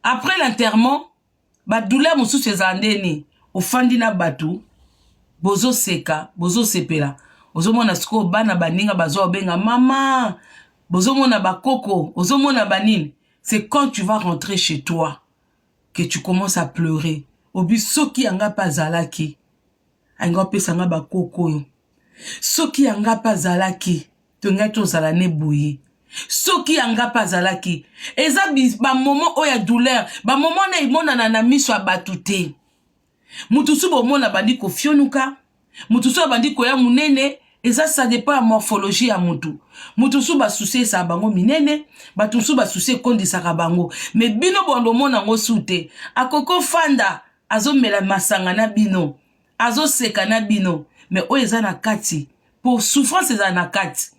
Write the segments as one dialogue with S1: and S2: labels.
S1: après l'enterrement badouleur mosusu ezala nde nini ofandi na bato bozoseka bozosepela ozomona sikoyo bana baninga bazwa obenga mama bozomona bakoko ozomona banini c'est quand tu vas rentrer chez toi que tu commences à pleurer obi soki yanga mpe azalaki alinga opesa nga bakoko oyo soki yanga mpe azalaki tongaki tozala ne boye soki yanga mpe azalaki eza bamoment oyo ya douleur bamoment wana emonana na miso ya bato te moto mosusu bomona abandi kofionuka moto mosusu abandi koya monene eza ça dépend ya morphologie ya motu moto mosusu basusi esaka bango minene bato mosusu basusi ekondisaka bango me bino bondo omona yango su te akoki ofanda azomela masanga na bino azoseka na bino me oyo eza na kati po souffrance ezala na kati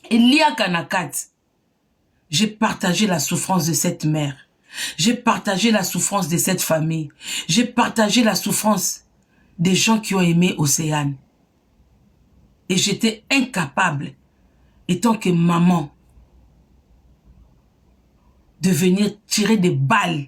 S1: eliaka na kati j'ai partagé la souffrance de cette mère j'ai partagé la souffrance de cette famille j'ai partagé la souffrance des gens qui ont aimé Océane et j'étais incapable étant que maman de venir tirer des balles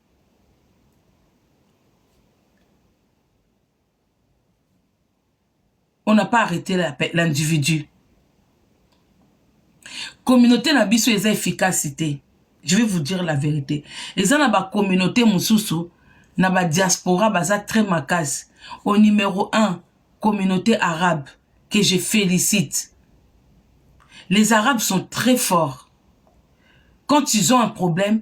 S1: on n'a pas arrêté l'individu communauté na biso eza efficacité je vais vous dire la vérité eza na bacommunauté mosusu na badiaspora baza très makasi au numéro 1 communauté arabe que je félicite les arabes sont très forts quand ils ont un problème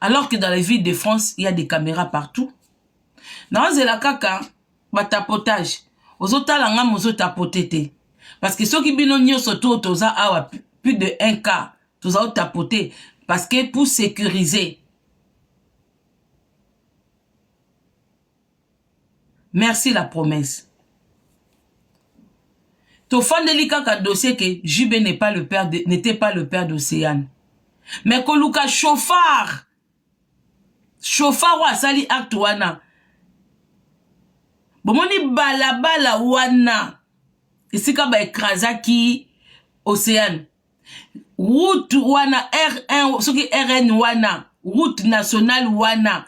S1: alors que dans la ville de france il y a des caméras partout naozela kaka batapotage ozotala nga mozotapote te parce que soki bino nyonso to toza awa plus de 1 cas toza otapote parce que pour sécuriser merci la promesse tofandeli kaka dossier ke jb n'est pas le père n'était pas le père d'océane mais koluka chauffard chauffard oyo asali acte wana bomoni balabala wana esika baekrazaki océane route wana r1 soki rn wana route nationale wana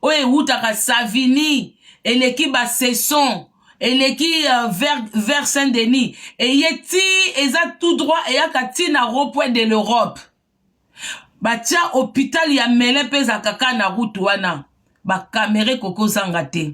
S1: oyo ewutaka savini eleki basaison eleki uh, vers, vers saint denis eye ti eza tout droit eyaka ti na ropoint de l'europe batya hôpital ya mele mpe ezalaka kaka na route wana bakamere kokozanga te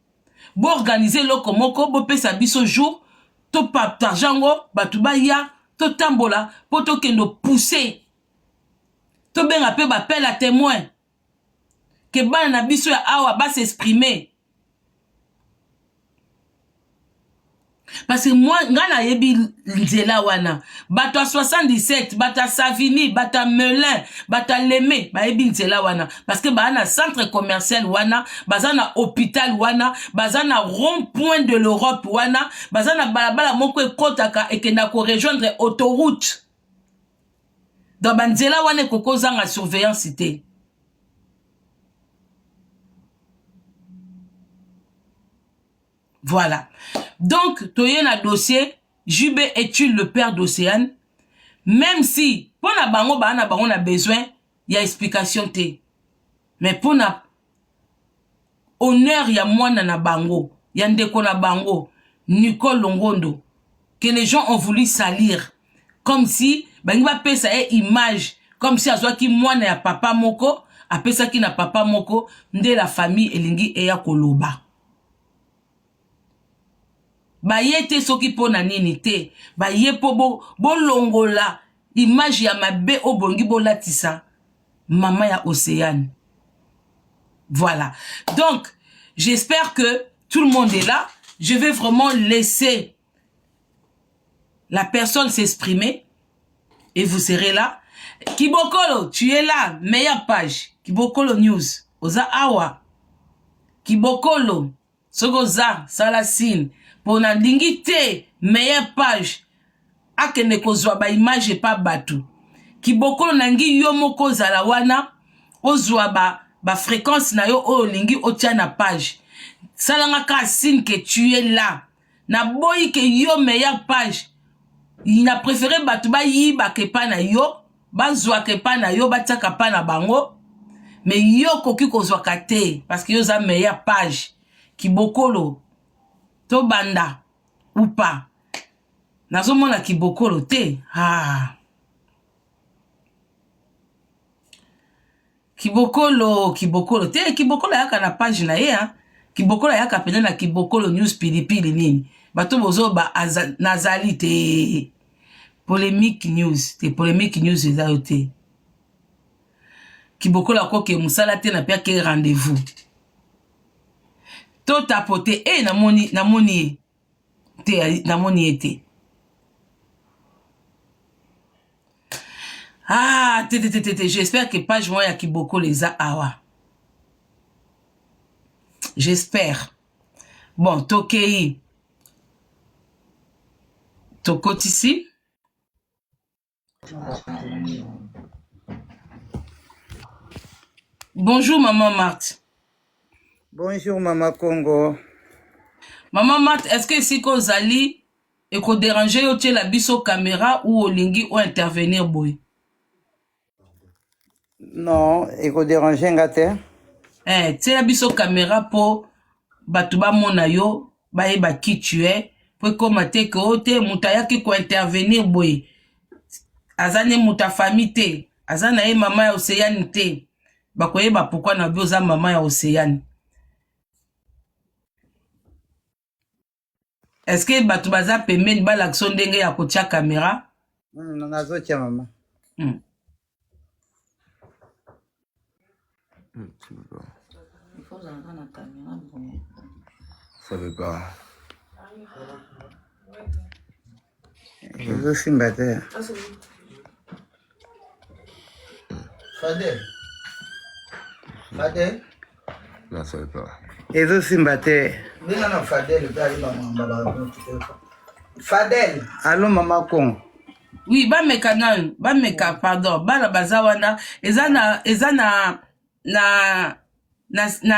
S1: bo organise eloko moko bopesa biso jour topartage yango bato baya totambola mpo tokende opousse tobenga mpe bapele ya témoin ke bana na biso ya awa basexprime parce que moi ngai nayebi nzela wana bato ya 77 bato ya savini bato ya melin bato ya leme bayebi nzela wana parce que baa na centre commercial wana baza na hôpital wana baza na rond point de l'europe wana baza na balabala moko ekotaka ekenda korejoindre autoroute donc banzela wana ekoki kozanga surveillance te Voilà. Donc, toye na dossier, JB est-il le père d'Océane? Même si, mpo na bango, baa na bango na besoin ya explication te. Mais mpo na honneur ya mwana na bango, ya ndeko na bango, Nicole Longondo, que les gens ont voulu salir. Comme si, bangi bapesa ye image, comme si azwaki mwana ya papa moko, apesaki na papa moko, nde la famille elingi eya koloba. baye te soki mpo na nini te baye mpo bo, bolongola image ya mabe oyo bolingi bolatisa mama ya océane voilà donc j'espère que tout le monde est là je vais vraiment laisser la personne s'exprimer et vous serez là kibokolo tu es là meilleure page kibokolo news oza awa kibokolo soki oza sala signe mpo nalingi te meilleure page akende kozwa baimage epa bato kibokolo nalingi yo moko ozala wana ozwa ba bafrequence na yo oyo olingi otya na page salanga ka signe ke tu es là na boyi ke yo meilleur page na prefere bato bayibaka epai na yo bazwaka epai na yo batiaka epai na bango me yo okoki kozwaka te parce que yo oza meilleur page kibokolo tobanda upa nazomona kibokolo te ah. Kibokolo, kibokolo te, kibokolo ayaka na page na ye hein. Kibokolo ayaka pene na kibokolo news pilipili nini. Bato bozo ba aza, nazali te. Polemique news, te polemique news eza yo te. Kibokolo akoke musala te na pia ke rendez-vous. To tapote, eh namoni, namoni ye. te namoni ye te ah te te te te te j'espère que page moko ya kibokolo eza awa j'espère bon tokei tokotisi Bonjour maman Marthe.
S2: Bonjour maman Congo.
S1: Maman Marthe, est-ce que esika ozali ekoderange yo otyela biso kamera ou olingi o intervenir boye?
S2: Non, eko déranger nga te. Eh, tiela
S1: biso camera po bato bamona yo bayeba qui tu es po ekoma te ke o te moto ayaki kointervenir boye aza ne moto ya famille te aza na ye mama ya oceane te bakoyeba pourkui na bi oza mama ya oceane est ce que bato baza pembeni balakisa ndenge ya kotya kamera hmm, nazotya
S2: mama hmm.
S1: Ça
S3: veut pas.
S2: Ezo simba te.
S3: Fadel. Fadel. Na soi pas. Ezo simba te.
S2: Bina na Fadel pe ali ba mamba ba
S3: Fadel. Allô mama Kongo.
S2: Oui, ba
S1: meka nanu, ba meka pardon, bana baza wana eza na eza na na na, na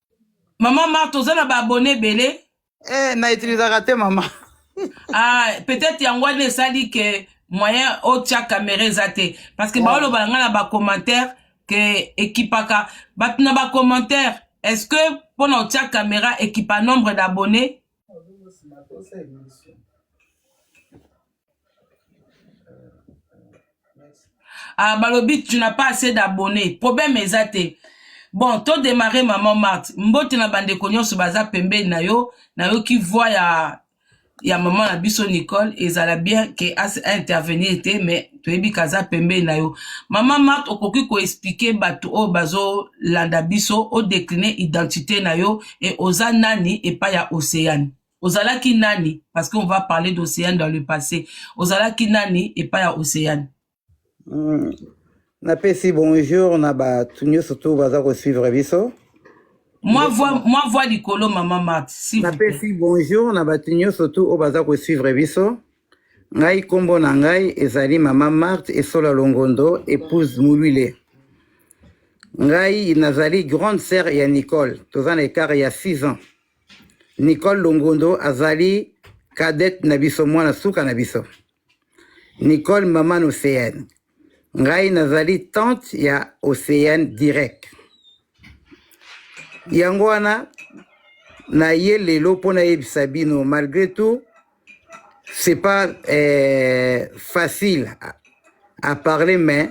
S1: Maman Marthe, oza na ba abonnés ebele. Eh, na utilisaka
S2: te maman. ah,
S1: peut-être yango wana esali que moyen otia caméra eza te parce que ouais. baoloba na ngai na bacommentaire ke ekipaka bato na bacommentaire est ce que mpo na otia caméra ekipa nombre d'abonné ah, balobi tu n'as pas assez d'abonné problème eza te bon to démarre maman marte mbote na bandeko nyonso baza pembeni na yo nayoki voi ya ya mama na biso nicole ezala bien ke intervenir te mais toyebi kaza pembeni na yo mama marte okoki koexplike bato oyo bazolanda biso odecline identité na yo e oza nani epai ya océane ozalaki nani parce qu'on va parler d'océane dans le passé ozalaki nani epai ya océane mm.
S2: napesi bonjour na bato nyonso to baza kosuivre biso mwa
S1: voix mwa voix likolo mama mat napesi bonjour
S2: na bato nyonso tu oyo baza kosuivre biso ngai nkombo na ngai ezali mama marte esola longondo épouse molwile ngai nazali grande sœur ya nicole toza na ekart ya 6 ans Nicole Longondo azali cadette na biso, mwana suka na biso. Nicole maman Océane. Ngai nazali tante ya Océane direct. Yango wana naye lelo mpo nayebisa bino malgré tout c'est pas euh, facile à, à parler mais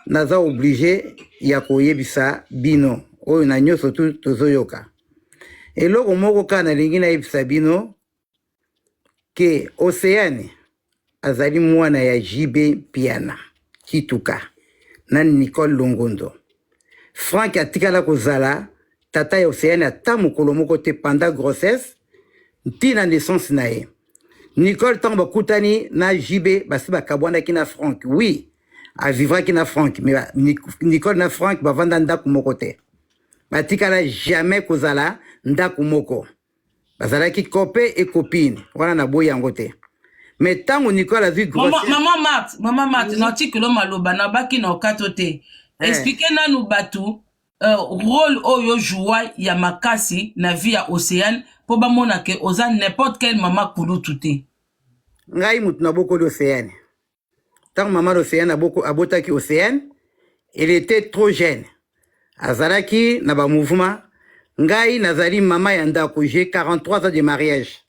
S2: Naza oblige ya koyebisa bino oyo na nyonso tu tozoyoka eloko moko kaka nalingi nayebisa bino ke oceane azali mwana ya jb mpiana kituka na nicole longondo frank atikala kozala tata ya oceane ata mokolo moko te panda grossesse ntina naissance na ye nicole ntango bakutani na jb basi bakabwanaki na frank wi oui. a vivraki na frank mais nicole na frank bavanda ndako moko te batikala jamais kozala ndako moko bazalaki cope e copine wana naboyi yango te mais ntango nicole azwi mama mart mama mart
S1: na artikelo maloba nabaki na okato te eh. explike nanu bato uh, role oyo joua ya makasi na vie ya océane mpo bamona ke oza n'importe quel mama kulutu te ngai
S2: moto nabokoli océane ntango mama l'océan aboko abotaki océan il était trop jeune azalaki na ba mouvement ngai nazali mama ya ndako j'ai 43 ans de mariage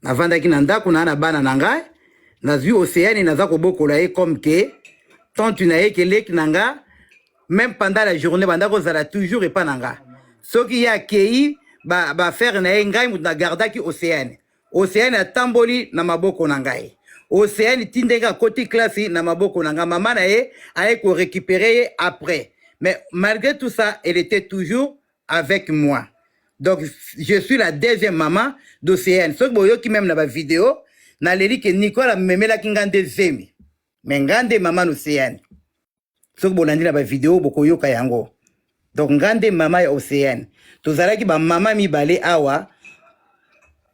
S2: navandaki na ndako na na bana na ngai nazwi océane naza kobokola ye comme ke tante na ye keleki na nga même pendant la journée banda kozala toujours epa na nga soki ye akei baaffaire ba na ye ngai moto nagardaki océane oseani atamboli na maboko na ngai oseani ti ndenge akoti klasi na maboko na ngai mama na ye aye korecupere ye après mais malgré tout ça elle était toujours avec moi donc je suis la deuxième mama d'oseani soki boyoki meme na bavideo naleli ke nicole amemelaki ngai nde zemi me ngai nde mama na oseani soki bolandi na bavideo bokoyoka yango donc nga nde mama ya océane tozalaki bamama mibale awa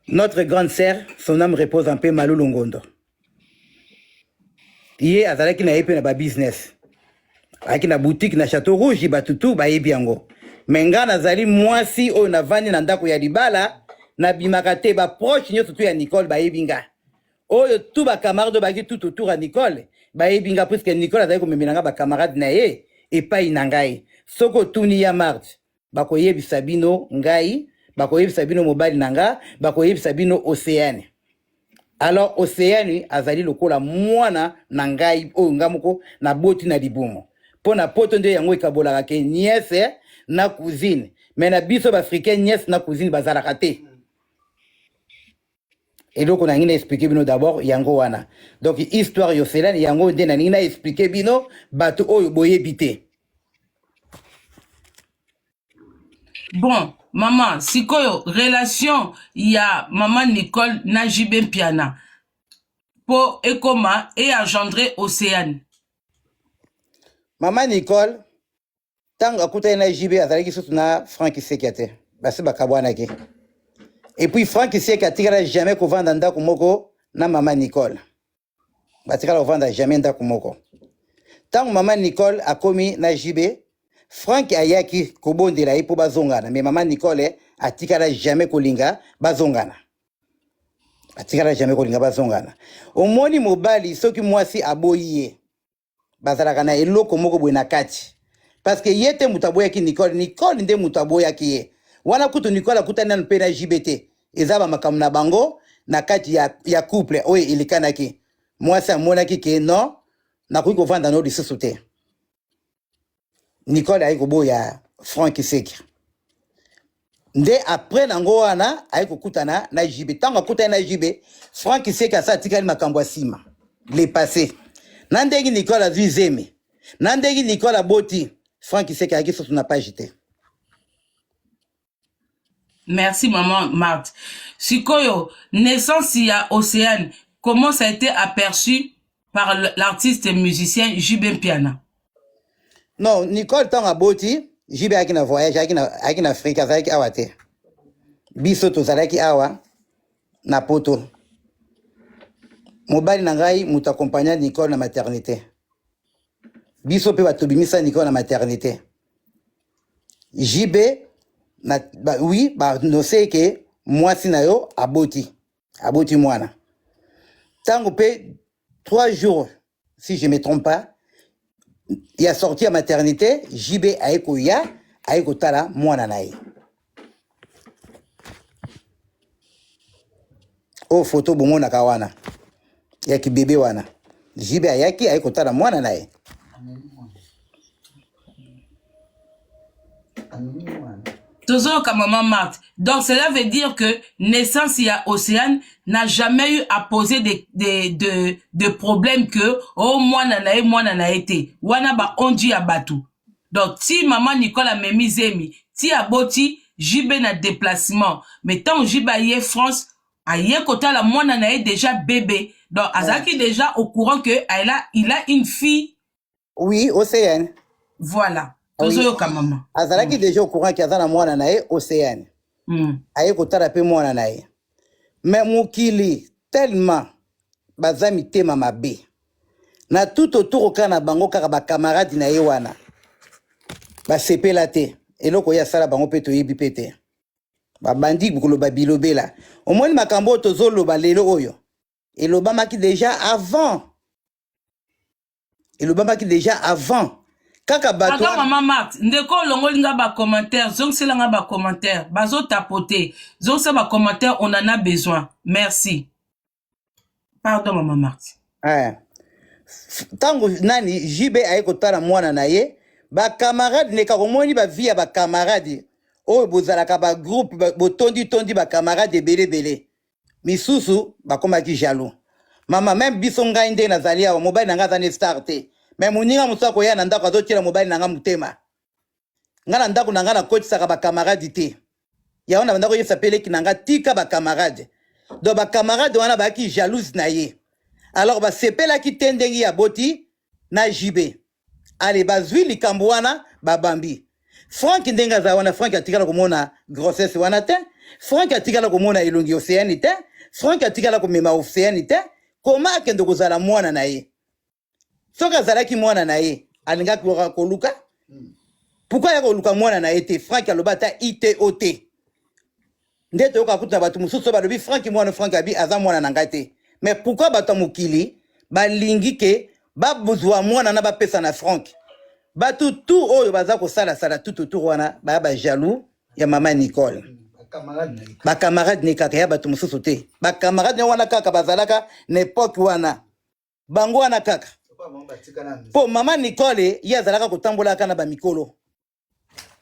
S2: notre grande sœur son âme repose en paix malulu ngondo ye azalaki na ye mpe na babusiness ayaki na boutique na chateau rouge bato tu bayebi yango me nga nazali mwasi oyo navandi na ndako ya libala nabimaka te baproche nyonso tu ya nicole bayebi nga oyo tout ba camarade oyo baki tout autour ya nicole bayebi nga puiske nicole azali komemela nga ba camarade na ye epai na ngai soki otuni ya marge bakoyebisa bino ngai bakoyebisa bino mobali na nga bakoyebisa bino oceane alors oceane azali lokola mwana na ngai oyo nga moko naboti na libumu mpo na poto nde yango ekabolaka ke niese na cousine me na biso baafricain niese na cousine bazalaka te eloko nangi na expliquer bino d'abord yango wana donc histoire yoselani yango nde naningi na expliquer bino bato oyo boyebi te
S1: bon mama sikoyo relation ya mama nicole na jb mpiana mpo ekoma eagendre océane mama
S2: nicole ntango akutani na jb azalaki susu na frank isekia te basi bakabwanaki epuis frank isekia atikala jamais kovanda ndako moko na mama nicole batikala kovanda jamais ndako moko ntango mama nicole akomi na jb frank ayaki kobondela ye mpo bazongana me mama nicole atikala jamais kolinga bazongana atikala jamais kolinga bazongana omoni mobali soki mwasi aboyi ye bazalaka na eloko moko boye na kati parceke ye te moto aboyaki nicole nicole nde moto aboyaki ye wana kutu nicole akutani nanu mpe na jb te eza bamakambo na bango na kati ya, ya couple oyo elekanaki mwasi amonaki ke non nakoki kovanda no lisusu te nicole aye koboya frank seki nde apres nango wana aye kokutana na jibe ntango akutani na jibe frank seki asa atikali makambo ya nsima le passé na ndenge nicole azwi zemi na ndenge nicole aboti frank seki ayaki susu na page te
S1: Merci maman Marthe. Sikoyo naissance ya Océane comment ça a été aperçu par l'artiste musicien JB Mpiana?
S2: Non, Nicole tant aboti JB ayaki na voyage ayaki na ayaki na Afrique azalaki awa te. Biso tozalaki awa na poto. Mobali na ngai moto accompagna Nicole na maternité. Biso mpe bato bimisa Nicole na maternité. JB na ba, oui ba nose ke mwasi na yo aboti aboti mwana tango pe 3 jours si je me trompe pas ya sortie ya maternité JB aye koya aye kotala mwana na ye oyo oh, foto bomonaka wana ya kibebe wana jibe ayaki aye kotala mwana na ye
S1: tozoyoka mama marthe donc cela veut dire que naissance ya océane n'a jamais eu à poser de, de, de, de problème que o oh, mwana na ye mwana na ye te wana baonji ya bato donc ti maman Nicole amemi zemi ti aboti JB na deplacement mais tango JB aye France aye kotala mwana na ye dejà bebe donc azalaki dejà au courant que elle a, il a une fille Oui,
S2: Océane. voilà
S1: Oui. tozoyoka mama Azalaki déjà au courant
S2: que aza na mwana na ye Océane. Mm. Aye kotala pe mwana na ye. Mais mokili tellement baza mitema mabe na tout autour oka na bango kaka ba camarade na ye wana basepela te eloko ye asala bango mpe toyebi mpe te babandi koloba bilobela omoni makambo oyo tozoloba lelo oyo elobamaki deja avant elobamaki deja avant kaka bato kaka mama marthe ndeko
S1: olongoli nga bacommentaire zongisela nga bacommentaire bazotapote zongisa bacommentaire on en a besoin merci pardon mama marthe eh. ntango
S2: nani jb aye kotala mwana na ye bakamarade ndeka komoni bavi ya bakamarade oyo bozalaka bagroupe botonditondi bakamarade ebele ebele misusu bakomaki jaloux mama meme biso ngai nde nazali awa mobali na ngai aza ne star te me moninga mosusu akoya na ndako azotyela mobali na ngai motema ngai na ndako na ngai nakotisaka bakamaradi te yango na bandako oyebisa mpe leki na ngai tika bakamarade donc bakamarade wana bayaki jalouse na ye alors basepelaki te ndenge ya boti na jibe ale bazwi likambo wana babambi frank ndenge aza wana frank atikala komona grossesse wana te frank atikala komona elongi oceani te frank atikala komema oceani te koma akende kozala mwana na ye soki azalaki mwana na ye alingaki kaka koluka pourkui aya koluka mwana na ye te frank aloba ata ito te nde toyoka kutu na bato mosusu oyo balobi franki mwana franki abi aza mwana na ngai te mais pourkui bato ya mokili balingi ke bazwa mwana na bapesa na franki bato tu oyo baza kosalasala tu totour wana baya bajaloux ya mama nicole bakamarade ne kaka ya bato mosusu te bakamarade ne wana kaka bazalaka na epoke wana bango wana kaka mpo mama nicole ye azalaka kotambolaka na bamikolo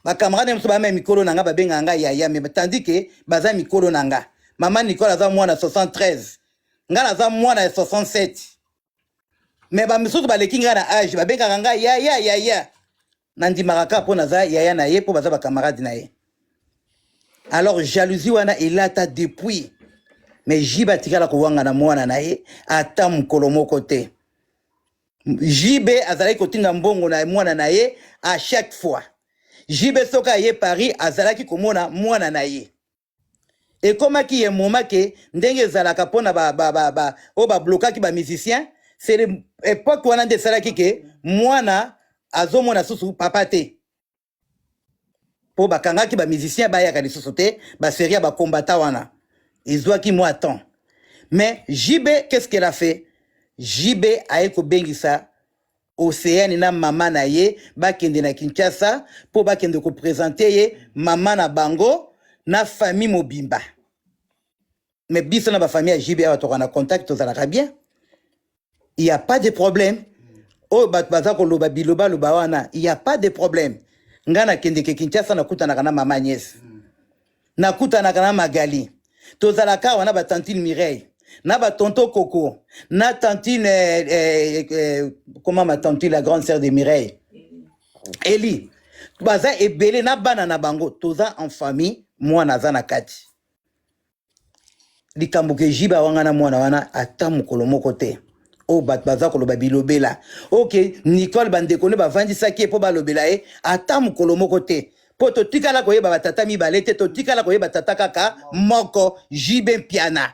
S2: ba camarade na biso bamema mikolo na nga babengaka nga yaya me tandi ke baza mikolo na nga mama nicole aza mwana 73 nga naza mwana ya 67 me bamisusu baleki ngai na age babengaka ngai yaya yaya nandimaka kaka mpo naza yaya na ye mpo baza bakamarade na ye alors jalousie wana elata depuis me jibe atikala kowanga na mwana na ye ata mokolo moko te JB azalaki kotinda mbongo na mwana na ye à chaque fois. JB soki aye Paris azalaki komona mwana na ye. Ekomaki ye moma ke ndenge ezalaka mpona ba, ba, ba, ba, oyo bablokaki ba musicien c'est l'époque wana nde esalaki ke mwana azomona susu papa te. mpo bakangaki ba musicien bayaka lisusu te ba serie ya ba combattant wana ezwaki mwa temps mais JB qu'est-ce qu'elle a fait JB aye kobengisa Océane na mama na ye bakende na Kinshasa mpo bakende kopresente ye mama na bango na famille mobimba mais biso na ba famille ya JB awa toka na contact tozalaka bien il y a pas de problème oyo bato baza koloba bilobaloba wana il y a pas de problème ngai nakendeke kinshasa nakutanaka na mama agnès nakutanaka na magali tozalaka awa na batantine mireille na batonto koko na tantine eh, eh, eh, comment ma tantine la grande sœur de mireille eli baza ebele na bana na bango toza en famille mwana aza na kati likambo ke jibe awangana mwana wana ata mokolo moko te oyo oh, bato baza koloba bilobela oke okay, nicole bandeko nde bavandisaki ye mpo balobela ye ata mokolo moko te mpo totikala koyeba batata mibale te totikala koyeba tata kaka moko jibe mpiana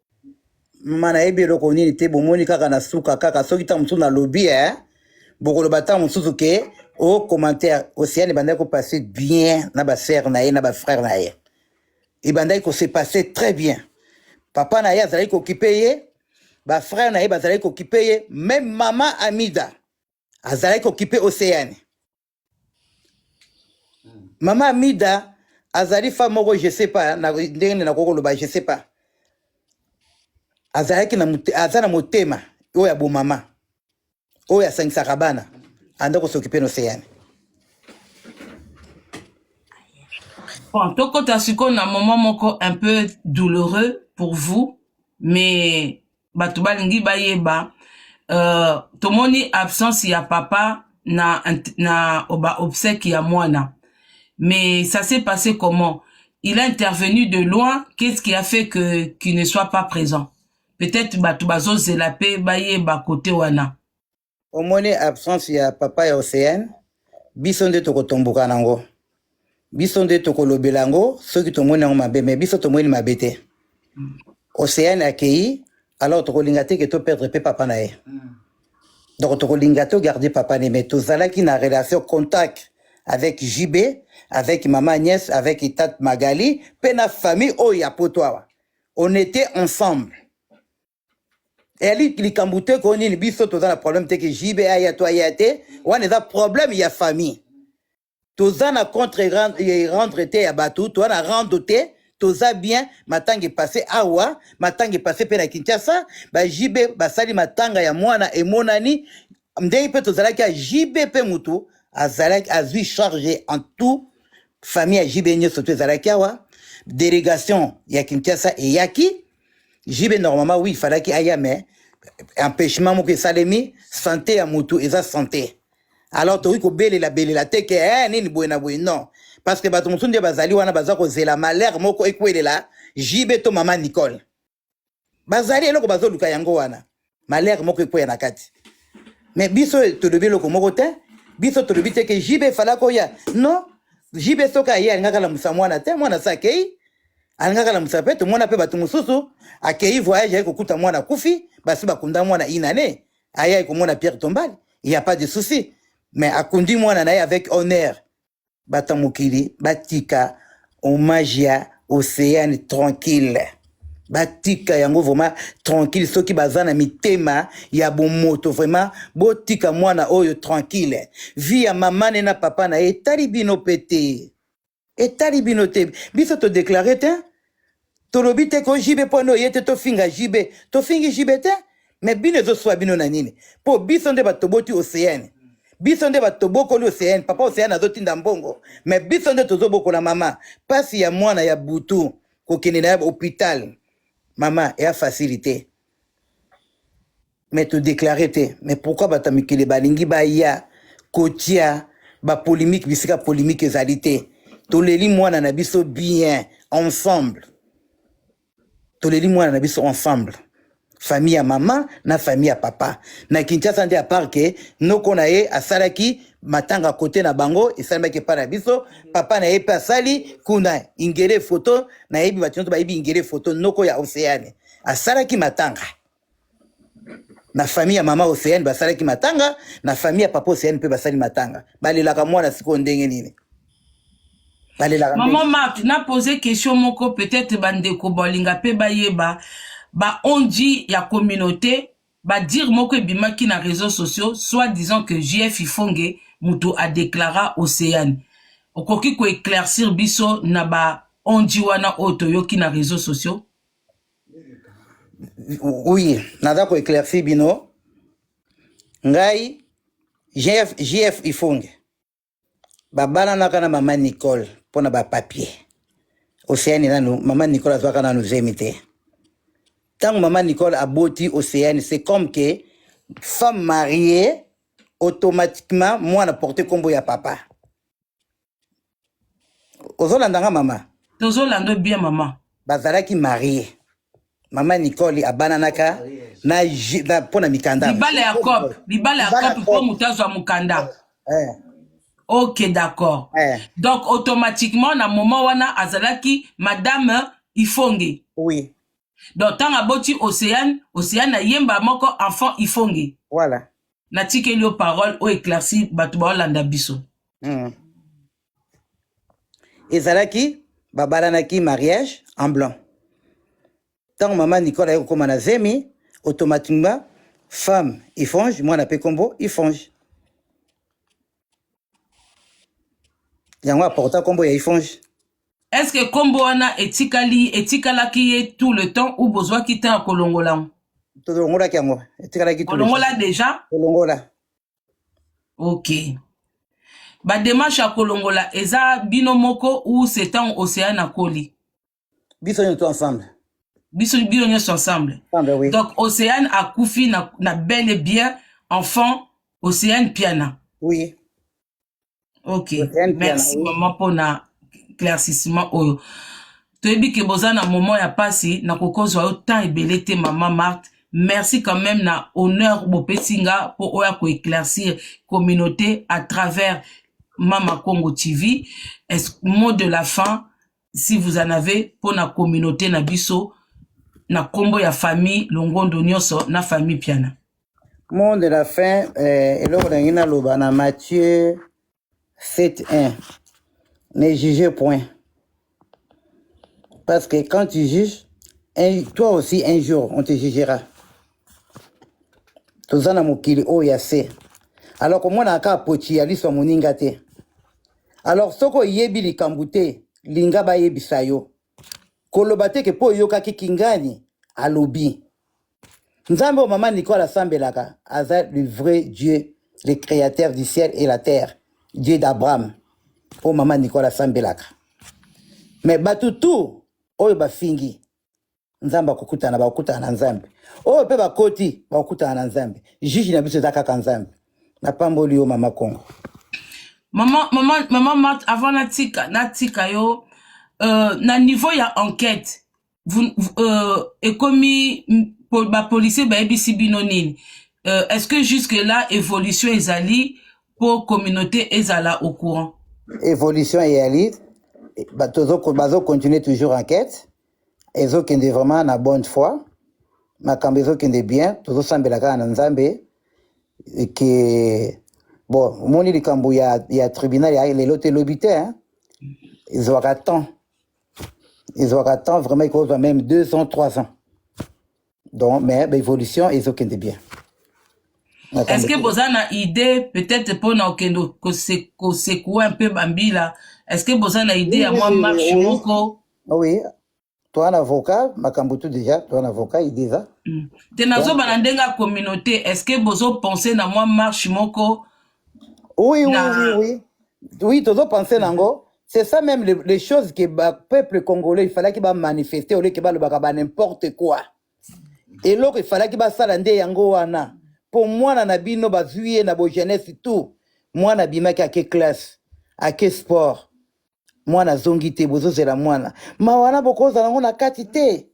S1: mama
S2: nayebi eloko nini te bomoni kaka na suka kaka soki ntango mosusu nalobi eh? bokoloba ntango mosusu ke o oh, commentaire océane ebandaki kopasse bien na basere na ye na bafrère na ye ebandaki kose passe très bien papa na ye azalaki kokipe ye bafrère na ye bazalaki kokipe ye meme mama amida azalaki kokipe océane mama amida azali femme moko je sais pas ndenge nini nakoki koloba je sais pas azalaki aza na motema oyo ya bomama oyo asangisaka bana anda kosokipe na oseane
S1: bon tokota sikoyo na moment moko un peu douloureux pour vous mais bato balingi bayeba uh, tomoni absence ya papa na, na ba obsèque ya mwana mais ça s'est passé comment il a intervenu de loin qu'est-ce qui a fait que qu'il ne soit pas présent peut-être bato bazozela mpe bayeba kote wana omoni
S2: absence ya papa ya oceane biso nde tokotomboka nango biso nde tokolobela yango soki tomoni yango mabe me biso tomoni mabe te oceane akei alors tokolinga te ke toperdre mpe papa na ye donc tokolinga togarde papa ne me tozalaki na relation contact avec jb avec mama agnès avec tate magali mpe na famille oyo ya poto awa on était ensemble eyali likambo te ko nini biso toza na problème te ke jb aya to aya te wana eza problème ya famille toza na contre eh, rendre te ya bato toza na rando te toza bien matanga epasse awa matanga epasse mpe na kinshasa ba jb basali matanga ya mwana emonani ndenge mpe tozalaki ya JB mpe moto azalaki azui charge en tout famille ya JB nyonso to ezalaki awa délégation ya Kinshasa eyaki JB normalement oui falaki aya mais empêchement moko esalemi santé ya moto eza santé alors tokoki kobelela belela te ke eh, nini boye na boye non parce que bato mosusu nde bazali wana baza kozela malheur moko ekwelela JB to mama Nicole bazali eloko bazoluka yango wana malere moko ekweya na kati me biso tolobi eloko moko te biso tolobi te ke jibe efalaki oya non jibe soki aye alingaki alamusa mwana te mwana se akei alingaki alamusa mpe tomona mpe bato mosusu akei voyage aye kokuta mwana akufi basi bakunda mwana inane aye aye komona pierre tombale il n'y a pas de souci mais akundi mwana na ye avec honneur bato ya mokili batika hommage ya oceane tranquille batika yango vraiment tranquille soki baza na mitema ya bomoto vraiment botika mwana oyo tranquille vi ya mama ne na papa na ye etali bino mpe te etali bino te biso todeklare te tolobi te ko JB mpo no ye te tofinga JB tofingi JB te me bino ezoswa bino na nini mpo biso nde bato toboti oceane biso nde bato tobokoli oceane papa oceane azotinda mbongo me biso nde tozobokola mama mpasi ya mwana ya butu kokende na ya hopital mama eya facilité me todeklare te me pourkui bato ya mikili balingi baya kotia bapolimike bisika polimike ezali te toleli mwana na biso bien ensemble toleli mwana na biso ensemble famille ya mama na famille ya papa na kinshasa nde apart ke noko na ye asalaki matanga kote na bango esalemaki epai na biso papa na ye mpe asali kuna ingele foto nayebi bato nyonso bayebi ingele foto noko ya oceane asalaki matanga na famille ya mama Oceane basalaki matanga, na famille ya papa Oceane mpe basali matanga. Balelaka mwana sikoyo ndenge nini? Balelaka Maman ndenge. Marc,
S1: na poser question moko peut-être bandeko balinga mpe bayeba ba onji ya communauté ba dire moko ebimaki na réseaux sociaux soit disant que JF Ifonge mutu a déclara Oceane. Okoki ko éclaircir biso na ba onji wana oyo toyoki na réseaux sociaux?
S2: Oui, naza ko éclaircir bino. Ngai JF JF Ifonge. Babana na kana maman Nicole pona ba papier. Océane nanu maman Nicole azwaka nanu zemi te. Tango maman Nicole aboti Océane, c'est comme que femme mariée automatiquement mwana porte kombo ya papa. ozolanda nga mama tozolanda bien
S1: mama bazalaki marie
S2: mama nicole abananaka na mpo na mikanda libala ya cop
S1: libala ya cop mpo moto azwa mokanda eh. ok d'accord eh. donc automatiquement na moment wana azalaki madame ifonge oui
S2: donc ntango
S1: aboti océane océane ayemba moko enfant ifonge voilà
S2: natikeli yo
S1: parole oyo éclairci bato baolanda biso mm.
S2: ezalaki babalanaki mariage en blanc ntango mama nicola aye kokóma na zemi automatiquement femme ifonge mwana mpe nkombo ifonge yango aporta nkombo ya ifonge est ce que
S1: nkombo wana etikali etikalaki ye tout le temps ou bozwaki temps ya kolongola yango tolongolaki
S2: yango etikalaki kolongola deja kolongola
S1: ok bademarche ya kolongola eza bino moko ou setan océan akoli biso nyoso
S2: ensemble biso bino
S1: nyoso ensemble ensemble oui donc océane akufi na, na bel et bien enfant océane piana oui ok Océane merci
S2: piana, oui. maman mpona
S1: claircissement oyo toyebi ke boza na moment ya pasi nakokozwa yo temps ebele te mama marthe merci quand même na honneur bopesi nga mpo oya koéclaircir communauté à travers mama congo tv est mot de la fin si vous en avez mpo na communauté na biso na nkombo ya famille longondo nyonso na famille piana mot de
S2: la fin eh, eloko nangi naloba na mathieu 7 1 ne juge point parce que quand tu juges un, toi aussi un jour on te jugera toza na mokili oyo ya se alors komonaka kaka poci ya liso ya moninga te alors soki oyebi likambo te linga bayebisa yo koloba te ke mpo oyokaki kingani alobi nzambe oyo mama nicole asambelaka aza le vrai dieu le créateur du ciel et la terre dieu d'abraham oyo mama nicole asambelaka me bato tu oyo bafingi nzambe akokutana bakokutana na nzambe oyo mpe bakoti bakokutana na nzambe juge na biso eza kaka nzambe napamboli yo mama kongo mama mama mama
S1: mat avant natika natika yo euh, na niveau ya enquête vous, euh, ekomi bapolicier bayebisi bino nini euh, est ce que jusque là évolution ezali mpo communauté ezala au courant évolution
S2: eyali bazocontinue toujours enquête ezokende vraiment na bonne foi makambo ezokende bien tozosambela kaka na nzambe ke bon omoni likambo ya, ya tribunal ya lelo te lobi te hein? ezwaka temps ezwaka temps vraiment ekozwa même deux ans trois ans donc mais baévolution ezokende bien
S1: est-ce que boza na idée peut-être mpona okende kosekoue un peu bambila est-ce que boza na idée ya mwa marche moko Oui,
S2: toa na avocat makambo tu deja toa na avocat il déjà mm. te nazoba na
S1: ndenge ya communauté est ce que bozo pense na mwa marche moko oui
S2: na... oui oui oui oui tozo pense nango c'est ça même les, les choses que ba peuple congolais il fallaki ba manifester oleke balobaka ba n'importe quoi eloko efalaki basala nde yango wana mpo mwana na bino bazwi ye na bogenese tout mwana abimaki ake classe ake sport mwana azongi te bozozela mwana mawa wana bokozala yango na kati te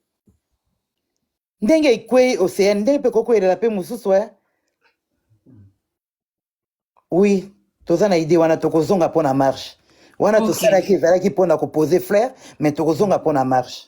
S2: ndenge ekwei oceane ndenge mpe kokwelela mpe mosusu e oui toza na idee wana tokozonga mpo na marche wana okay. tosalaki ezalaki mpo na kopose flaire mais tokozonga mpo na marche